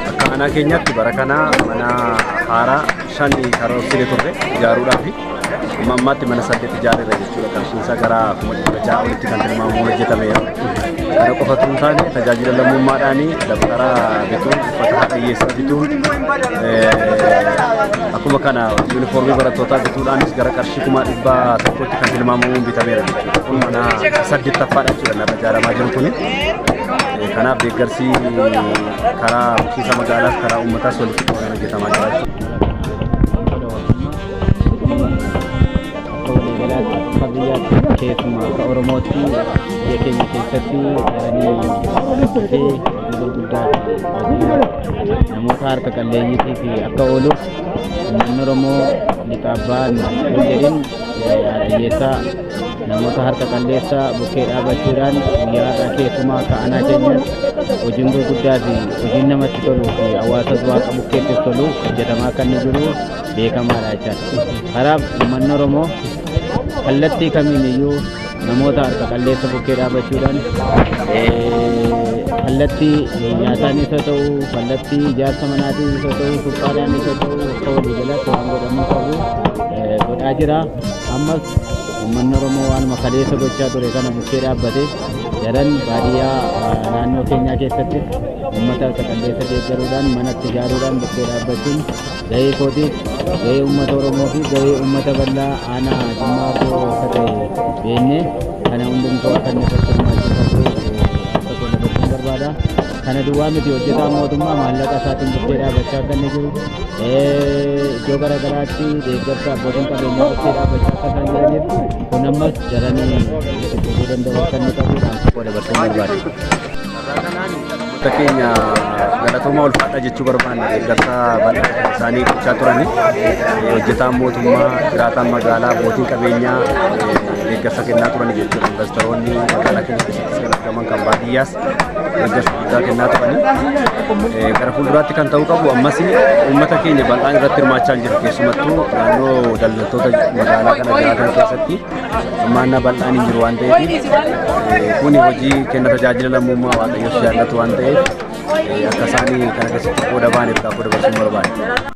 Akka aanaa keenyaatti bara kana mana haaraa shan karoorsine turre ijaaruudhaafi. Amma ammaatti mana saddeet ijaarreera jechuudha. Qarshiin isaa gara kuma dhibba ja'a olitti kan tilmaamamu hojjetameera. Kana qofa osoo hin taane tajaajila lammummaadhaan dabtara bituun uffata haadha hiyyeessaa bituun eh, akkuma kana yuunifoormii barattootaa bituudhaanis gara qarshii kuma dhibba tokkotti kan tilmaamamuun bitameera jechuudha. Kun mana saddeettaffaadha jechuudha narra ijaaramaa jiru kuni. Eh, Kanaaf deeggarsi karaa bulchiinsa magaalaas karaa uummataas walitti qabamee hojjetamaa jira jechuudha. keessumaa akka oromootti biyya keenya keessatti jiranii dhufee yeroo guddaa namoota harka qalleeyyiitii fi akka ooluuf uummanni oromoo lixa abbaa hin jedhin hiyyeessaa namoota harka qalleessa bukkee dhaabachuudhaan guyyaa har'aa keessumaa akka anaa keenyatti hojiin gurguddaa fi hojiin namatti toluu fi hawaasa du'aa qabu keessatti tolu hojjetamaa kan jiru beekamaadha jechaadha. Kanaaf uummanni Oromoo kallattii kamiin iyyuu namoota harka qalleessa bukkee dhaabachuudhaan kallattii nyaataanis haa ta'u, kallattii ijaarsa manaatiinis haa ta'u, suphaadhaanis haa ta'u akka walii galaatti waan godhamuu qabu godhaa jira. Ammas uummanni Oromoo waanuma kaleessa gochaa ture kana bukkee dhaabbate daran baadiyyaa naannoo keenyaa keessatti uummata harka qalleessa deeggaruudhaan manatti ijaaruudhaan bukkee dhaabbachuun gahee kootiif gahee uummata Oromoo fi gahee uummata bal'aa aanaa Jimmaa Abboo akka ta'e beennee kana hundumtuu akka inni irratti hirmaachuu qabu akka godha gochuun barbaada. Kana duwwaa miti hojjetaa mootummaa maallaqa isaatiin bukkee dhaabachaa akka inni jiru iddoo gara garaatti deeggarsa abbootiin qabeenyaa bukkee dhaabachaa akka isaan jiraniif kun ammas jaranii itti fufuu danda'u akka inni qabu dhaamsa godha gochuun barbaada. Uummata keenya galatooma ulfaadha jechuu barbaanna deeggarsa bal'aa isaanii gochaa turani. Hojjetaan mootummaa, jiraataan magaalaa, abbootiin qabeenyaa deeggarsa kennaa turani jechuudha. Investoroonni magaalaa keenya keessatti kan argaman kan baadiyyaas deeggarsa guddaa kennaa turani. Gara fuulduraatti kan ta'uu qabu ammas uummata keenya bal'aan irratti hirmaachaa hin jiru keessumattuu naannoo daldaltoota magaalaa kana jiraatan keessatti. hirmaannaa bal'aan hin jiru waan ta'eef kuni hojii kenna tajaajila lammummaa waaqayyoo jaallatu waan ta'eef akka isaanii kana keessatti qooda baaniif gaafa dabarsuun barbaada.